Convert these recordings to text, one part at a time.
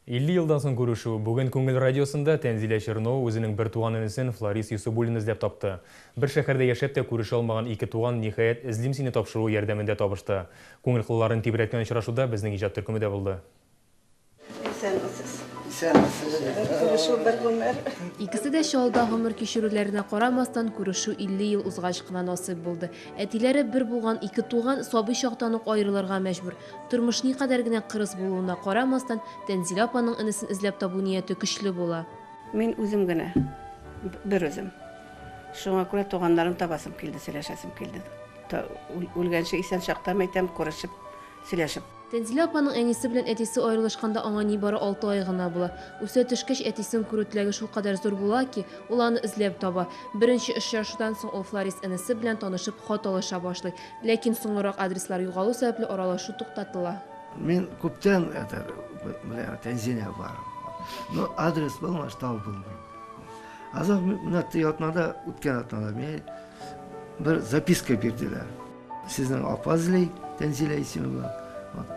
50 елдан соң күрешү. Бүген Күңел радиосында Тәнзилә Чернова үзенең бертуган энесен Фларис Йосыбуллин эзләп тапты. Бер шәһәрдә яшәп тә күрешә алмаган ике туган, ниһаять, Эзлим сине тапшыруы ярдәмендә табышты. Күңел кылларын тибрәткән очрашуда безнең иҗат төркеме дә булды. Исәнмесез. Исәнмесез. Күрешү бер гомер. Икесе дә Чаллыда гомер кичерүләренә карамастан, күрешү 50 ел узгач кына насыйп булды. Әтиләре бер булган ике туган сабый чактан ук аерылырга мәҗбүр. Тормыш никадәр генә кырыс булуына карамастан, Тәнзилә апаның энесен эзләп табу нияте көчле була. Мин үзем генә, берүзем. Шуңа күрә туганнарын табасым килде, сөйләшәсем килде. Үлгәнче исән чактан, әйтәм, күрешеп, сөйләшеп. Тәнзилә апаның әнисе белән әтисе аерылышканда аңа нибары алты ай гына була. Үсә төшкәч, әтисен күрү теләге шулкадәр зур була ки, ул аны эзләп таба. Беренче очрашудан соң ул Фларис энесе белән танышып, хат алыша башлый. Ләкин соңрак адреслар югалу сәбәпле аралашу туктатыла. Мин күптән әтәр белән Тәнзинә барам. Но адрес булмаш тау булмый. Азак менә ти атнада, үткән атнада мин бер записка бирделәр. Сезнең апа эзли, Тәнзилә исеме белән.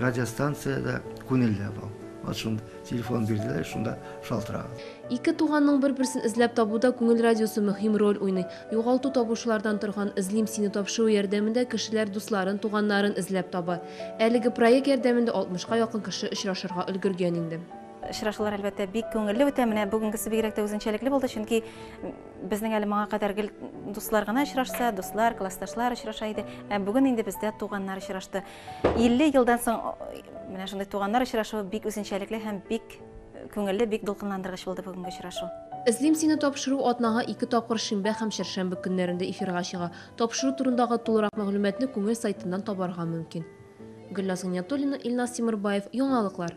радиостанциядә күнелә бу. Вот шунда телефон бирделәр, шунда шалтыраган. Ике туганның бер-берсен эзләп табуда күңел радиосы мөһим роль уйный. Югалту табучылардан торган Эзлим сине тапшыруы ярдәмендә кешеләр дусларын, туганнарын эзләп таба. Әлеге проект ярдәмендә 60 ка якын кеше очрашырга өлгергән инде. Очрашулар, әлбәттә, бик күңелле үтә. Менә бүгенгесе бигрәк тә үзенчәлекле булды, чөнки Безнең әле моңа кадәр гел дуслар гына очрашса, дуслар, классташлар очраша иде. Ә бүген инде бездә туганнар очрашты. 50 елдан соң менә шундый туганнар очрашуы бик үзенчәлекле һәм бик күңелле, бик дулкынландыргыч булды бүгенге очрашу. Эзлим сине тапшыру атнага ике тапкыр шимбә һәм чәршәмбе көннәрендә эфирга чыга. Тапшыру турындагы тулырак мәгълүматны күңел сайтыннан табарга мөмкин. Гөлназ Гыйниятуллина, Илназ Тимербаев, Яңалыклар.